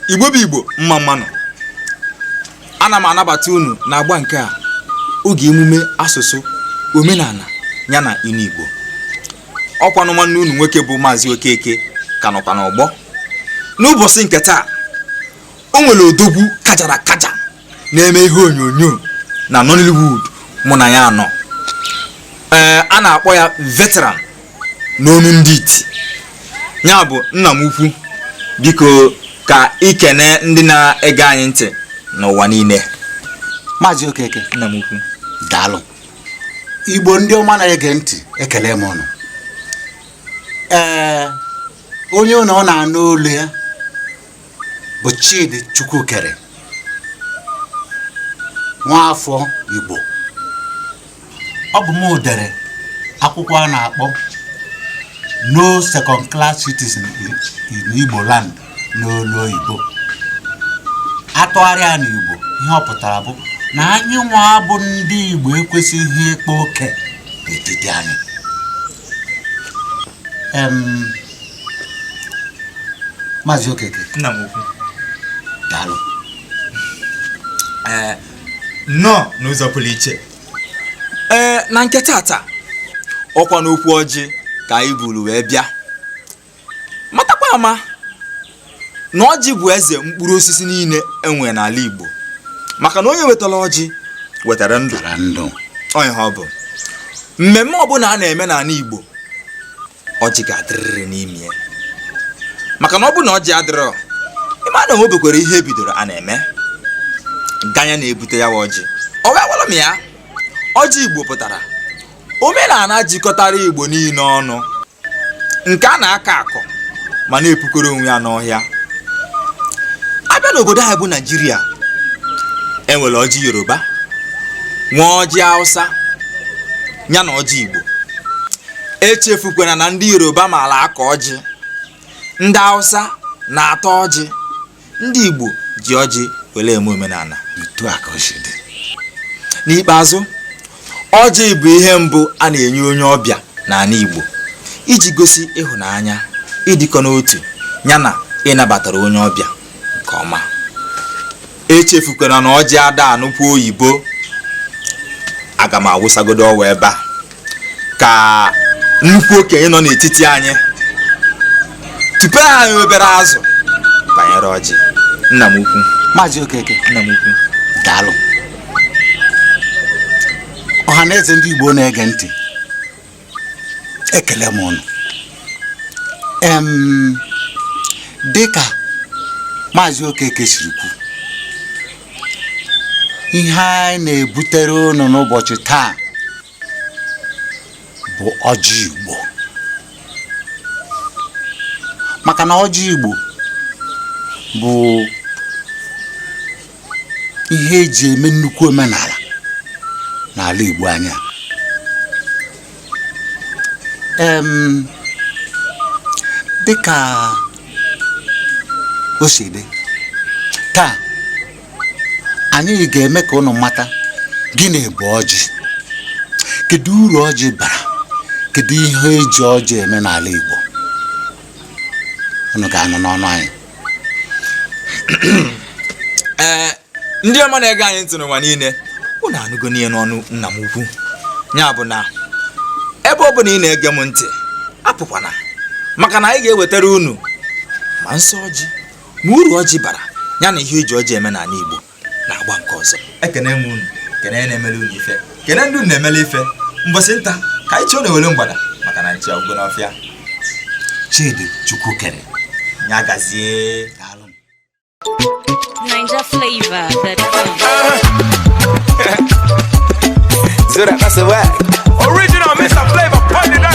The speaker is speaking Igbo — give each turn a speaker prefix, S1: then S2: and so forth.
S1: igbo bụ igbo mma mma nụ ana m anabata unu na agba nke a oge emume asụsụ omenala ya na inu igbo ọkwanụ nwanne unu nwoke bụ maazị okeke ka nọkwa n'ọgbọ n'ụbọchị nke taa o nwere odogwu kajara akaja na-eme ihe onyonyo na Nollywood mụ na ya anọ ee eh, a na-akpọ ya veteran n'onu ndị iti ya bụ nna m ukwu biko ka i kene ndị na-ege anyị ntị n'ụwa niile
S2: maazị okeke nna m
S1: ukwu
S2: daalụ igbo ndị ọma na-ege ntị ekele m unu ee eh, onye unu na-anụ olu ya bụ Chidi Chukwukere nwaafọ Igbo ọ bụ m dere akwụkwọ a na-akpọ no second class citizen in Igbo land n'olu oyibo a tụgharịa na Igbo ihe ọ pụtara bụ na anyị nwa bụ ndị Igbo ekwesịghị ịkpa oke n'etiti anyị Maazị Okeke nna m
S1: ukwu
S2: daalụ
S1: ee nnọọ n'ụzọ pụrụ iche ee na nke tata ọkwa n'okwu ọjị ka anyị buru wee bịa matakwa ama na ọjị bụ eze mkpụrụ osisi niile e nwe n'ala Igbo maka na onye wetara ọjị wetara ndụ onye ha ọ bụ mmemme ọbụla a na-eme n'ala Igbo ọjị ga-adịrịrị n'ime ya maka na ọ bụ na ọjị adịrọ ị ma na enwebekwarọ ihe e bidoro a na-eme ganye na e bute ya waa ọjị ọ wee gwara m ya ọjị igbo pụtara omenala jikọtara igbo niile ọnụ nke a na-akọ akọ ma na-epukọrọ onwe ya n'ọhịa a bịa n'obodo anyị bụ naijiria e nwere ọjị yoruba nwee ọjị awụsa ya na ọjị igbo echefukwana na ndị yoruba maara akọ ọjị ndị awụsa na-ata ọjị ndị igbo ji ọjị were eme omenala etu a ka o
S2: si dị n'ikpeazụ
S1: ọjị bụ ihe mbụ a na-enye onye ọbịa n'ala igbo iji gosi ịhụnanya ịdịkọ n'otu ya na ịnabatara onye ọbịa nke ọma echefukwana na ọjị ada anụkwu oyibo aga m awụsagodo ọwa ebe a ka nnukwu okenye nọ n'etiti anyị tupu anyị obere azụ banyere ọjị nna m ukwu maazị okeke
S2: nna m
S1: ukwu daalụ
S2: ọha na eze ndị igbo na-ege ntị ekele m ụnụ em dịka maazị okeke siri kwu ihe anyị na-ebutere ụnụ n'ụbọchị taa bụ ọjị igbo maka na ọjị igbo bụ ihe eji eme nnukwu omenala n'ala Igbo anyị a em dịka o si dị taa anyị ga-eme ka ụnụ mata gịnị bụ ọjị kedu uru ọjị bara kedu ihe eji ọjị eme n'ala Igbo ụnụ ga-anụ n'ọnụ anyị
S1: ee ndị ọma na-ege anyị ntị n'ụwa niile unu anụgonụ ya n'ọnụ nna m ukwu ya bụ na ebe ọ bụla ị na-ege m ntị apụkwana maka na anyị ga-ewetara unu ma nsọ ọjị ma uru ọjị bara ya na ihe eji ọjị eme n'ala Igbo n'agba nke ọzọ ekene m unu kene na-emele unu ife kene ndị unu na-emele ife mbọsị nta ka anyị chụọ n'owere mgbada maka na nchi agwụgo n'ọfịa
S2: chidi chukwukere ya
S1: gazie
S2: daalụ
S3: Naija
S4: flavor that Zura, that's a whack. Original Mr. Flavor, put it on.